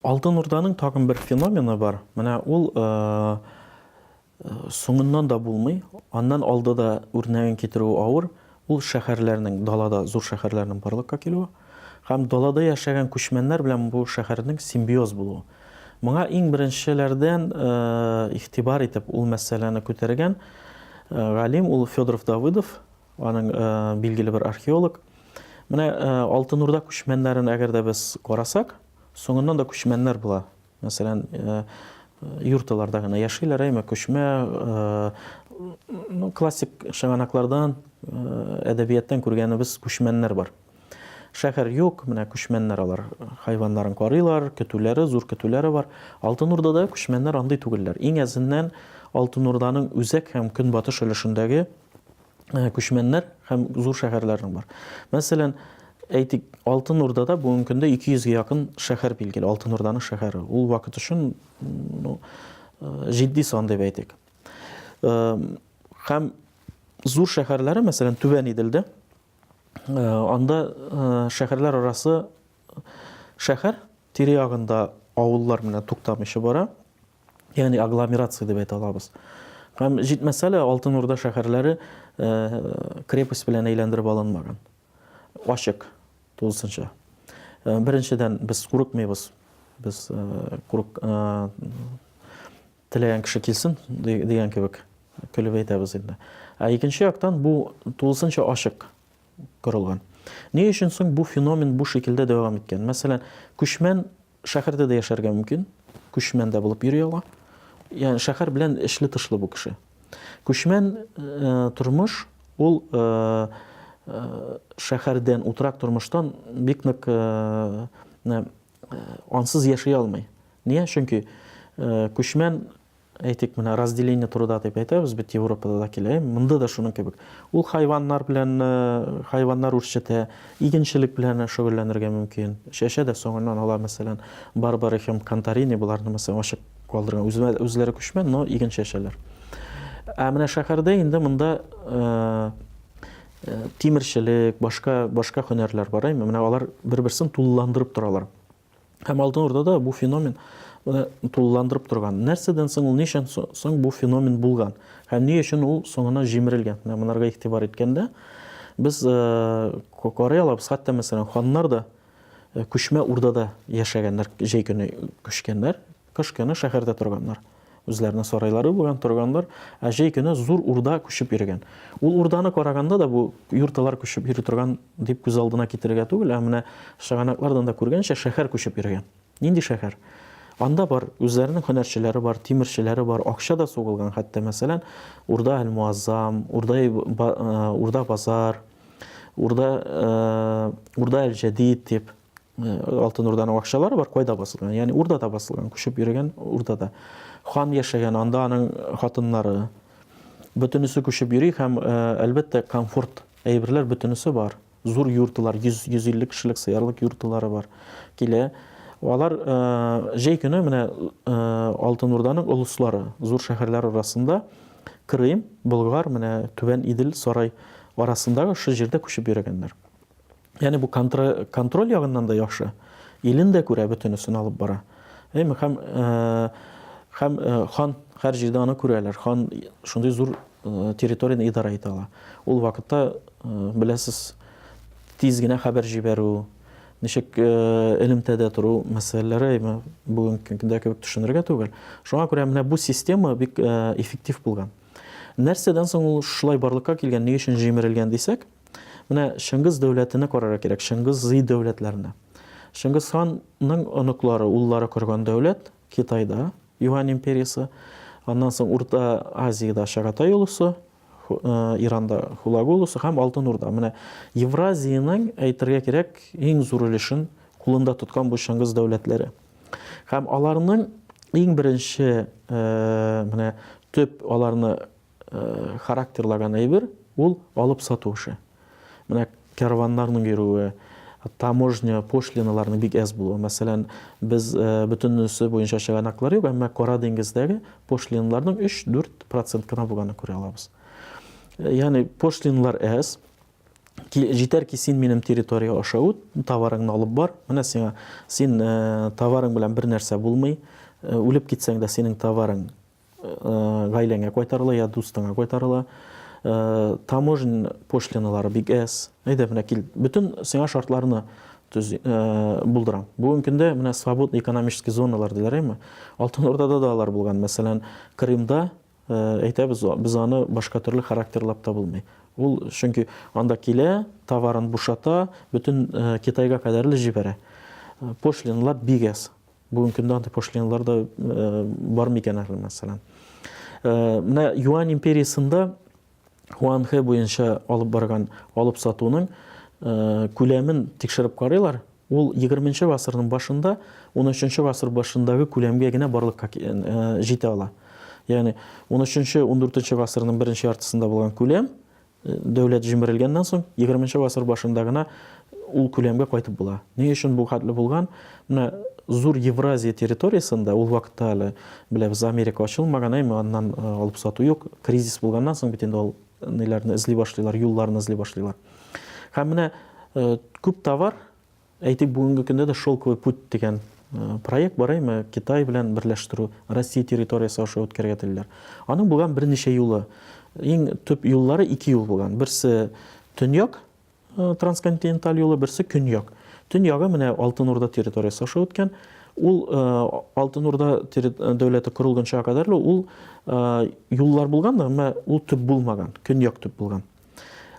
Алтын Урданың тагын бер феномены бар. Менә ул э, э, соңыннан да булмый, аннан алды да үрнәген китерү авыр. Ул шәһәрләрнең, далада зур шәһәрләрнең барлыкка килүе һәм далада яшәгән күчмәннәр белән бу шәһәрнең симбиоз булуы. Моңа иң беренчеләрдән игътибар итеп ул мәсьәләне күтәргән галим ул Федоров Давыдов, аның билгеле бер археолог. Менә Алтын Урда күчмәннәрен әгәр дә без карасак, соңыннан да күчмәннәр була. мәсәлән, юрталарда гына яшиләр, әйме күчмә, ну, классик чыганаклардан, әдәбияттан күргәнебез күчмәннәр бар. Шәһәр юк, менә күчмәннәр алар хайваннарын карыйлар, көтүләре, зур көтүләре бар. Алтын Урдада күчмәннәр андый түгелләр. Иң әзеннән Алтын Урданың үзәк һәм көнбатыш өлешендәге күчмәннәр һәм зур шәһәрләрнең бар. Мәсәлән, әйтик, Алтын Урдада бүгенге көндә 200 гә якын шәһәр билгеле, Алтын Урданың шәһәре. Ул вакыт өчен ну, э, җитди сан дип әйтик. Э, һәм зур шәһәрләре, мәсәлән, Түбән Иделдә, э, анда шәһәрләр арасы шәһәр тирә ягында авыллар менә туктамыйча бара. ягъни агломерация дип әйтә алабыз. Һәм җитмәсә лә Алтын Урда шәһәрләре крепость белән әйләндереп алынмаган. Ачык тулысынча. Беренчедән, без курыкмыйбыз. Без курык теләгән кеше килсен дигән кебек көлеп әйтәбез инде. Ә икенче яктан бу тулысынча ачык корылган. Ни өчен соң бу феномен бу шикелдә дәвам иткән? Мәсәлән, күчмән Шәһәрдә дә яшәргә мөмкин, күчмән дә булып йөри ала. Ягъни шәһәр белән эчле-тышлы бу кеше. Күчмән тормыш ул шәһәрдән, утрак тормыштан бик нык ансыз яши алмый. Нигә? Чөнки күчмән Әйтик, менә разделение труда дип әйтәбез бит, Европада да килә, монда да шуның кебек. Ул хайваннар белән, хайваннар үрчетә, игенчелек белән шөгыльләнергә мөмкин. Чәчә дә соңыннан ала, мәсәлән, Барбара һәм Кантарини буларны мәсәлән ачык калдырган. Үзләре, үзләре күчмә, но иген чәчәләр. Ә менә шәһәрдә инде монда тимерчелек, башка башка һөнәрләр бар, әйме? Менә алар бер-берсен тулыландырып торалар. Һәм Алтын Урдада бу феномен моны тулыландырып торган. Нәрсәдән соң ул, ничән соң бу феномен булган? Һәм ни өчен ул соңына җимерелгән? Менә монарга игътибар иткәндә, без карый алабыз, хәтта мәсәлән, ханнар да күчмә урдада яшәгәннәр, җәй көне күчкәннәр. Кыш көне шәһәрдә торганнар. Үзләренең сарайлары булган, торганнар. Ә җәй көне зур урда күчеп йөргән. Ул урданы караганда да бу юрталар күчеп йөри торган дип күз алдына китерергә түгел, ә менә чыганаклардан да күргәнчә, шәһәр күчеп йөргән. Нинди шәһәр? Анда бар, үзләренең һөнәрчеләре бар, тимерчеләре бар, акча да сугылган хәтта, мәсәлән, Урда әл-Муаззам, Урда, Урда базар, Урда, Урда әл-Җәдид дип. Алтын Урданың акчалары бар, кайда басылган? Ягъни Урдада басылган, күчеп йөргән Урдада. Хан яшәгән, анда аның хатыннары. Бөтенесе күчеп йөри һәм, әлбәттә, комфорт әйберләр бөтенесе бар. Зур юртылар, 100-150 кешелек сыярлык юртылары бар. Килә. Алар җәй көне менә Алтын Урданың олыслары, зур шәһәрләр арасында Крым, Болгар, менә Түбән Идел, Сарай арасындагы шул җирдә күчеп йөргәннәр. Яни бу контроль ягыннан да яхшы. Илен дә күрә, бөтенесен алып бара. Әйме, һәм һәм хан һәр җирдә аны күрәләр. Хан шундый зур территорияне идарә итә ала. Ул вакытта беләсез, тиз генә хәбәр җибәрү, ничек элемтәдә тору мәсьәләләре әйме бүгенге көндә кебек төшенергә түгел. Шуңа күрә менә бу система бик эффектив булган. Нәрсәдән соң ул шулай барлыкка килгән, ни өчен җимерелгән дисәк, Менә Чыңгыз дәүләтене карарга кирәк, Чыңгыз-Зый дәүләтләренә. Чыңгыз ханның оныклары, уллары корган дәүләт Китайда, Юань империясе, аннан соң Урта Азиядә Чагатай улусы, э, Иранда Хулагу улусы һәм Алтын Урда. Менә Евразиянең әйтергә кирәк иң зур өлешен кулында тоткан бу Чыңгыз дәүләтләре. Һәм аларның иң беренче э, менә төп аларны характерлаган әйбер, ул алып сату эше. Менә кәрваннарның йөрүе, таможня пошлиналарының бик әз булуы. Мәсәлән, без э, бөтенесе буенча чыганаклар юк, әмма Кара диңгездәге пошлиналарның 3-4 процент кына булганын күрә алабыз. Э, ягъни пошлиналар әз, җитәр ки син минем территория аша үт, товарыңны алып бар, менә сиңа син э, товарың белән бер нәрсә булмый, үлеп китсәң дә синең товарың Гаиләңә кайтарыла я дустыңа кайтарыла. Таможня пошлиналары бик әз. Әйдә, менә кил, бөтен сиңа шартларны булдырам. Бүгенге көндә менә свободный экономический зоналар диләр, әйме? Алтын Урдада да алар булган. Мәсәлән, Крымда, әйтәбез, без аны башка төрле характерлап та булмый. Ул, чөнки анда килә, товарын бушата, бөтен Китайга кадәрле җибәрә. Пошлиналар бик әз. Бүгенге көндә андый пошлиналар да бар микән әле, мәсәлән. Менә Юань империясендә Хуанхэ буенча алып барган алып сатуның күләмен тикшереп карыйлар. Ул 20-нче гасырның башында, 13-нче гасыр башындагы күләмгә генә барлыкка җитә ала. Ягъни 13-нче, 14-нче гасырның беренче яртысында булган күләм Дәүләт җимерелгәннән соң, егерменче гасыр башында гына ул күләмгә кайтып була. Ни өчен бу хәтле булган? Менә зур Евразия территориясендә ул вакытта әле беләбез, Америка ачылмаган, әйме, аннан э, алып сату юк. Кризис булганнан соң бит инде ул ниләрне эзли башлыйлар, юлларны эзли башлыйлар. Һәм менә э, күп товар Әйтик, бүгенге көндә дә Шелковый путь дигән проект бар, әйме, Китай белән берләштерү, Россия территориясе аша үткәрергә телиләр. Аның булган берничә юлы. Иң төп юллары ике юл булган. Берсе төньяк трансконтиненталь юлы, берсе көньяк. Төньягы менә Алтын Урда территориясе аша үткән. Ул Алтын Урда дәүләте корылганчага кадәрле ул юллар булган, әмма ул төп булмаган, көньяк төп булган.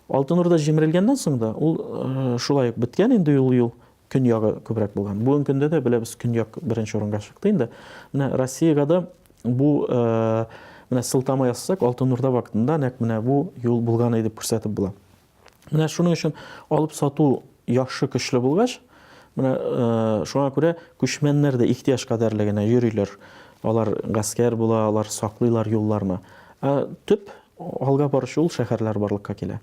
Алтын Урда җимерелгәннән соң да ул э, шулай ук беткән инде ул юл көньягы күбрәк булган. Бүгенге көндә дә беләбез көньяк беренче урынга чыкты инде. Менә Россиягә да бу э, менә сылтама ясасак Алтын Урда вакытында нәкъ менә бу юл булган иде дип күрсәтеп була. Менә шуның өчен алып сату яхшы көчле булгач, менә э, шуңа күрә күчмәннәр дә ихтияҗ кадәрле генә йөриләр. Алар гаскәр була, алар саклыйлар юлларны. Ә төп Алга баручы ул шәһәрләр барлыкка килә.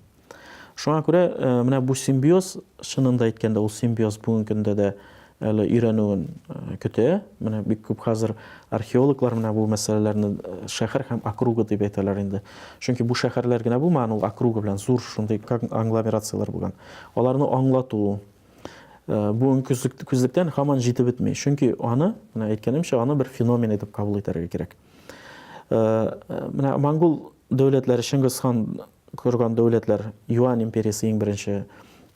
Шуңа күрә менә бу симбиоз, чынын да әйткәндә, ул симбиоз бүгенге көндә дә әле өйрәнүен көтә. Менә бик күп хәзер археологлар менә бу мәсьәләләрне шәһәр һәм округа дип әйтәләр инде. Чөнки бу шәһәрләр генә булмаган, ул округа белән зур шундый конгломерацияләр булган. Аларны аңлату бүгенге күзлектән һаман җитеп бетми. Чөнки аны, менә әйткәнемчә, аны бер феномен итеп кабул итәргә кирәк. Менә монгол дәүләтләре, Чыңгыз хан корган дәүләтләр, Юань империясе иң беренче,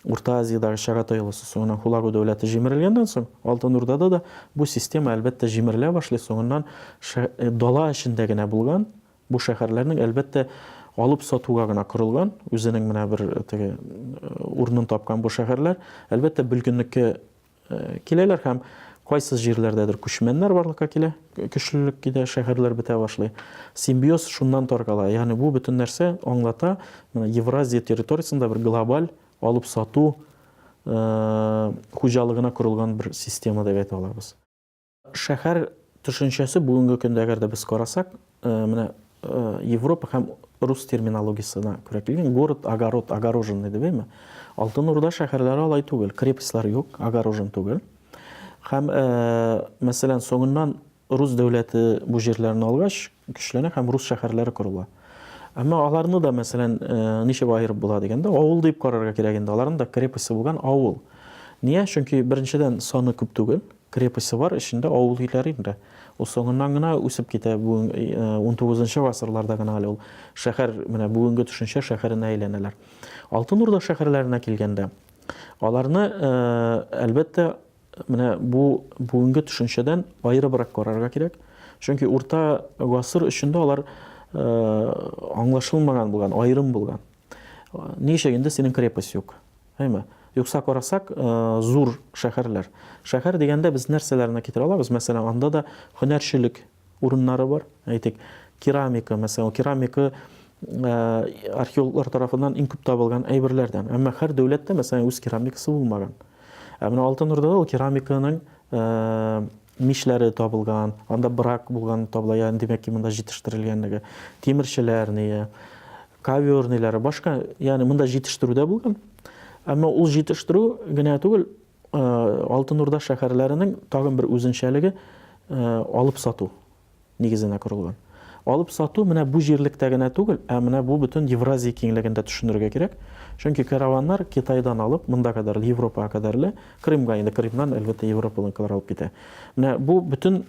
Урта Азиядагы Чагатай олысы, соңыннан Хулагу дәүләте җимерелгәннән соң, Алтын Урдада да бу система, әлбәттә, җимерелә башлый, соңыннан дала эчендә генә булган, бу шәһәрләрнең, әлбәттә, алып сатуга гына корылган, үзенең менә бер теге урынын тапкан бу шәһәрләр, әлбәттә, бөлгенлеккә Киләләр һәм кайсы җирләрдәдер күчмәннәр барлыкка килә, көчлелек китә, шәһәрләр бетә башлый. Симбиоз шуннан таркала. Ягъни бу бөтен нәрсә аңлата, менә Евразия территориясендә бер глобаль алып сату э, хуҗалыгына корылган бер система дип әйтә алабыз. Шәһәр төшенчәсе бүгенге көндә әгәр дә без карасак, менә Европа һәм рус терминологиясенә күрә килгән город, огород, огороженный дип әйме. Алтын Урда шәһәрләре алай түгел, крепостьлар юк, огорожен түгел. Һәм, мәсәлән, соңыннан рус дәүләте бу җирләрне алгач, көчләнә һәм рус шәһәрләре корыла. Әмма аларны да, мәсәлән, ничек аерып була дигәндә, авыл дип карарга кирәк инде, аларның да крепостьсы булган авыл. Ния? Чөнки, беренчедән, саны күп түгел, крепостьсы бар, эчендә авыл өйләре инде. Ул соңыннан гына үсеп китә, бүген унтугызынчы гасырларда гына әле ул шәһәр, менә бүгенге төшенчә шәһәренә әйләнәләр. Алтын Урда шәһәрләренә килгәндә, аларны, әлбәттә, Менә бу бүгенге төшенчәдән аерыбрак карарга кирәк. Чөнки урта гасыр өчен дә алар э, аңлашылмаган булган, аерым булган. Ничек инде синең крепость юк? Әйме? Юкса карасак, э, зур шәһәрләр. Шәһәр дигәндә без нәрсәләрне китерә алабыз? Мәсәлән, анда да һөнәрчелек урыннары бар. Әйтик, керамика, мәсәлән, керамика археологлар тарафыннан иң күп табылган әйберләрдән. Әмма һәр дәүләттә, мәсәлән, үз керамикасы булмаган. Ә менә Алтын Урдада ул керамиканың мишләре табылган, анда брак булган табыла, ягъни димәк ки, монда җитештерелгәнлеге. Тимерчеләр ние, ковёрныйлары, башка, ягъни монда җитештерү дә булган. Әмма ул җитештерү генә түгел, Алтын Урда шәһәрләренең тагын бер үзенчәлеге алып сату нигезенә корылган. Алып сату менә бу җирлектә генә түгел, ә менә бу бөтен Евразия киңлегендә төшенергә кирәк. Чөнки караваннар Китайдан алып, монда кадәр Европага кадәрле, Крымга инде Крымнан әлбәттә европалыкалар алып китә. Менә бу бөтен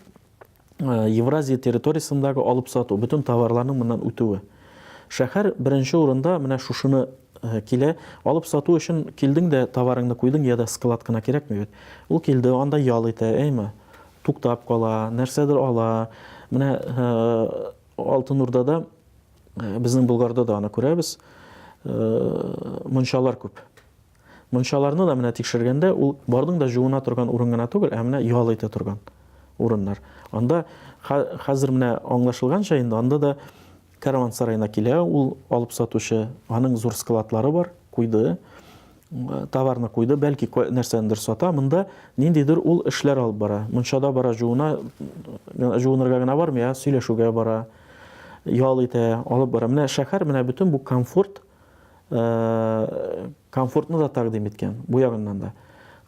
Евразия территориясендәге алып сату, бөтен товарларның моннан үтүе. Шәһәр беренче урында менә шушыны килә. Алып сату өчен килдең дә товарыңны куйдың, я да склад кына кирәкми бит. Ул килде, анда ял итә, әйме? Туктап кала, нәрсәдер ала. Менә Алтын Урдада, безнең Болгарда да аны күрәбез, мунчалар күп. Мунчаларны да менә тикшергәндә, ул барның да җуына торган урын гына түгел, ә менә ял итә торган урыннар. Анда хәзер менә аңлашылганча инде, анда да караван-сараена килә ул алып сатучы, аның зур складлары бар, куйды, товарны куйды, бәлки нәрсәндер сата, монда ниндидер ул эшләр алып бара. Мунчада бара җуына, җуынырга гына бармый, ә сөйләшүгә бара, ял итә, алып бара. Менә шәһәр, менә бөтен бу комфорт, комфортны да тәкъдим иткән бу ягыннан да.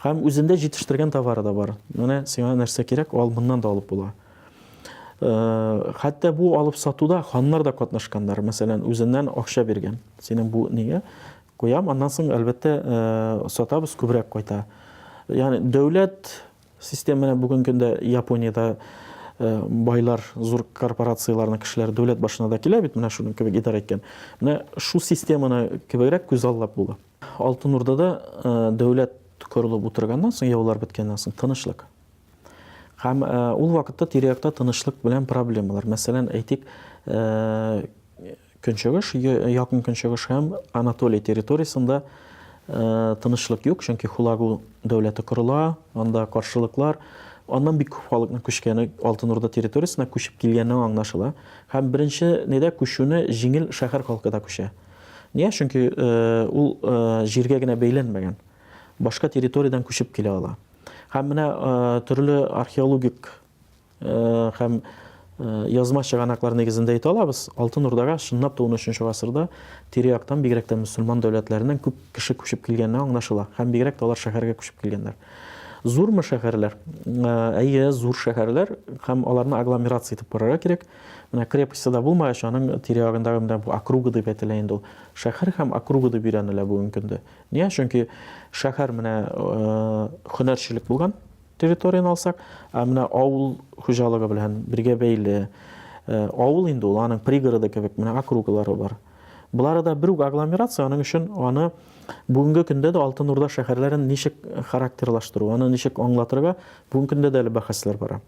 Һәм үзендә җитештергән товары да бар. Менә сиңа нәрсә кирәк, ал моннан да алып була. Хәтта бу алып сатуда ханнар да катнашканнар. Мәсәлән, үзеннән акча биргән. Синең бу нигә? Куям, аннан соң әлбәттә сатабыз күбрәк кайта. Ягъни дәүләт Систем менә бүгенге көндә Япониядә байлар, зур корпорацияләрнең кешеләре дәүләт башына да килә бит, менә шуның кебек идарә иткән. Менә шу системаны кебегрәк күз аллап була. Алтын Урдада дәүләт корылып утырганнан соң, яулар беткәннән соң тынычлык. Һәм ул вакытта тирә-якта тынычлык белән проблемалар. Мәсәлән, әйтик, Көнчыгыш, Якын Көнчыгыш һәм Анатолия территориясендә тынычлык юк, чөнки Хулагу дәүләте корыла, анда каршылыклар, аннан бик күп халыкның күчкәне, Алтын Урда территориясенә күчеп килгәне аңлашыла. Һәм беренче недә күчүне җиңел шәһәр халкы да күчә. Нигә? Чөнки ул җиргә генә бәйләнмәгән, башка территориядән күчеп килә ала. Һәм менә төрле археологик, һәм язма чыганаклар нигезендә әйтә алабыз, Алтын Урдага чынлап та 13 гасырда тирә-яктан, бигрәк тә мөселман дәүләтләреннән күп кеше күчеп килгәне аңлашыла, һәм бигрәк тә алар шәһәргә күчеп килгәннәр. Зурмы шәһәрләр? Әйе, зур шәһәрләр, һәм аларны агломерация итеп карарга кирәк. Менә крепостьта да булмагач, аның тирә-ягындагы менә бу округа дип әйтелә инде ул. Шәһәр һәм округа дип өйрәнелә бүгенге көндә. Нигә? Чөнки шәһәр менә һөнәрчелек булган, территорияне алсак, ә менә авыл хуҗалыгы белән бергә бәйле, э, авыл инде ул, аның пригороды кебек, менә округлары бар. Болары да бер үк агломерация, аның өчен аны бүгенге көндә дә Алтын Урда шәһәрләрен ничек характерлаштыру, аны ничек аңлатырга, бүгенге көндә дә әле бәхәсләр бара.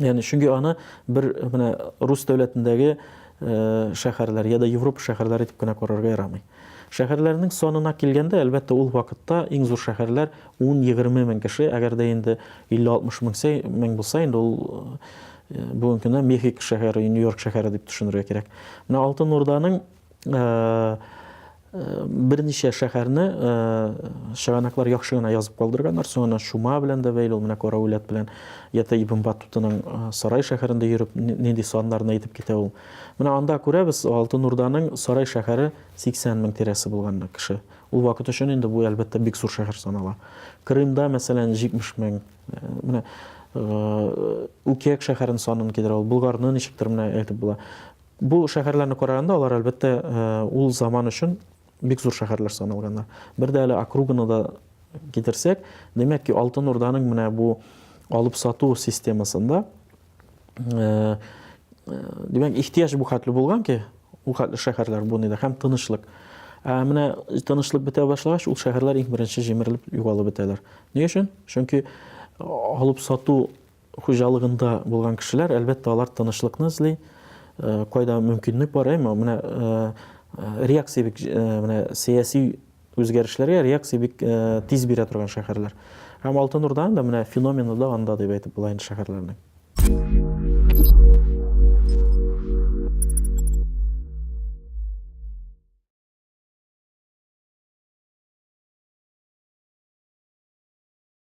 Яни чөнки аны бер менә рус дәүләтендәге э, шәһәрләр яда Европа шәһәрләре дип кенә карарга ярамый. Шәһәрләрнең санына килгәндә, әлбәттә, ул вакытта иң зур шәһәрләр 10-20 мең кеше, әгәр дә инде 50-60 мең сәй мең булса, инде ул э, бүгенге көндә Мехико шәһәре, Нью-Йорк шәһәре дип төшенергә кирәк. Менә Алтын Урданың э, Берничә шәһәрне чыганаклар яхшы гына язып калдырганнар, соң аны чума белән дә бәйле, ул менә Караулят белән Яты Ибн Батутаның Сарай шәһәрендә йөреп нинди саннарны әйтеп китә ул. Менә анда күрәбез, Алтын Урданың Сарай шәһәре 80 мең тирәсе булган кеше. Ул вакыт өчен инде бу, әлбәттә, бик зур шәһәр санала. Крымда, мәсәлән, 70 мең. Менә Үкәк шәһәрен санын кидерә ул, Болгарны ничектер менә әйтеп була. Бу шәһәрләрне караганда, алар, әлбәттә, ул заман өчен бик зур шәһәрләр саналганнар. Бер дә әле округаны да китерсәк, димәк ки, Алтын Урданың менә бу алып-сату системасында, димәк, ихтыяҗ бу хәтле булган ки, ул хәтле шәһәрләр буны да һәм тынычлык. Ә менә тынычлык бетә башлагач, ул шәһәрләр иң беренче җимерелеп югалып бетәләр. Ни өчен? Чөнки алып-сату хуҗалыгында булган кешеләр, әлбәттә, алар тынычлыкны эзли, кайда мөмкинлек бар, әмма менә реакция бик менә сәяси үзгәрешләргә реакция бик тиз бирә торган шәһәрләр. Һәм Алтын Урданың да менә феномены да анда дип әйтеп була инде шәһәрләрнең.